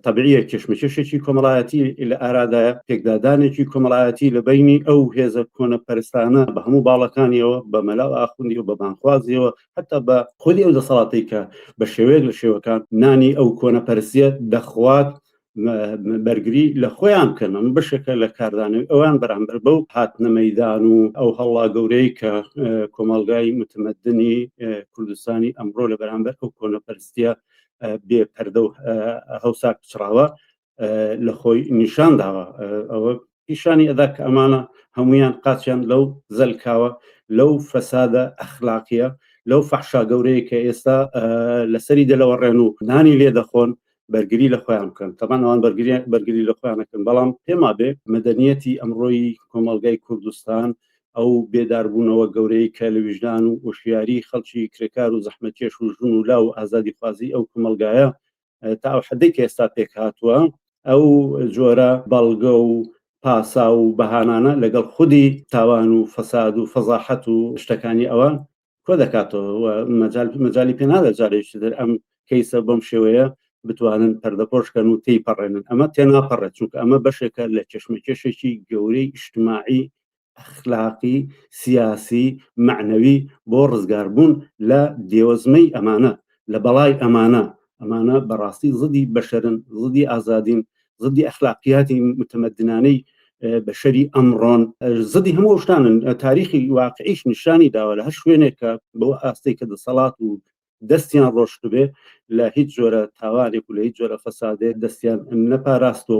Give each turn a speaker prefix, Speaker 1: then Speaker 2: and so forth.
Speaker 1: تەبعیە کێشمەکێشێکی کۆمەڵایەتی لە ئارادایە، پێکدادانێکی کۆمەڵایەتی لە بەینی ئەو هێزە کۆنە پەرستانە بە هەموو باڵەکانیەوە بە مەلا و ئاخوندی و بە بانگخوازیەوە حتا بە خودی ئەو دەسەڵاتەی کە بە شێوەیەک لە شێوەکان نانی ئەو کۆنە پەرستیە دەخوات بەرگری لە خۆیان بکەن ئەم بەشێکە لە کاردانەوەی ئەوان بەرامبەر بەو هاتنە مەدان و ئەو هەڵا گەورەی کە کۆمەڵگای متمەدنی کوردستانی ئەمڕۆ لە بەرامبەر ئەو کۆنەپەرستە بێ پەردە و هەوسا پچڕاوە لە خۆی نیشان داوە ئەوە پیشانی ئەدا کە ئەمانە هەمویان قاچیان لەو زەلکاوە لەو فەسادە ئەخلاقیە لەو فەحشا گەورەیە کە ئێستا لەسەری دەلەوەڕێن و نانی لێ دەخۆن بەرگری لە خۆیان بکەن تەمان ئەوان بەرگری بەرگری لە خۆیانەکەن بەڵام پێما بێ مەدەنیەتی ئەمڕۆی کۆمەلگای کوردستان ئەو بێداربوونەوە گەورەی کە لە ویژدان و وشیاری خەڵکی کرێکار و زەحمەتکێش و ژون و لاو ئازادی خوازی ئەو کومەڵگایە تا ئەو حدەی کە ئێستا پێک هاتووە ئەو جۆرە بەڵگە و پاسا و بەهانانە لەگەڵ خودی تاوان و فەساد و فەزاحەت و شتەکانی ئەوان کۆ دەکاتەوە مەجای پێنادا جارێکی در ئەم کەیسە بەم شێوەیە بتوانن پەردەپۆشکەن و تی پەڕێنن ئەمە تێناپەڕێت چونکە ئەمە بەشێکە لە چشمەکێشێکی گەورەی ئیشتماعی ئەخلاقی سیاسی معنەوی بۆ ڕزگاربوون لە دێوەزمەی ئەمانە لە بەڵای ئەمانە ئەمانە بەڕاستی زدی بەشەرن زدی ئازادین زدی ئەخلاقیاتی متمدنانەی بەشەری ئەمڕۆن زدی هەموو شتانن تاریخی واقعیش نیشانی داوە لە هەر شوێنێک کە بەو ئاستەی کە دەسەڵات و دەستیان ڕۆشتبێ لە هیچ جۆرە تاوانێک و لە هیچ جۆرە فەسادێ دەستیان نەپاراستەوە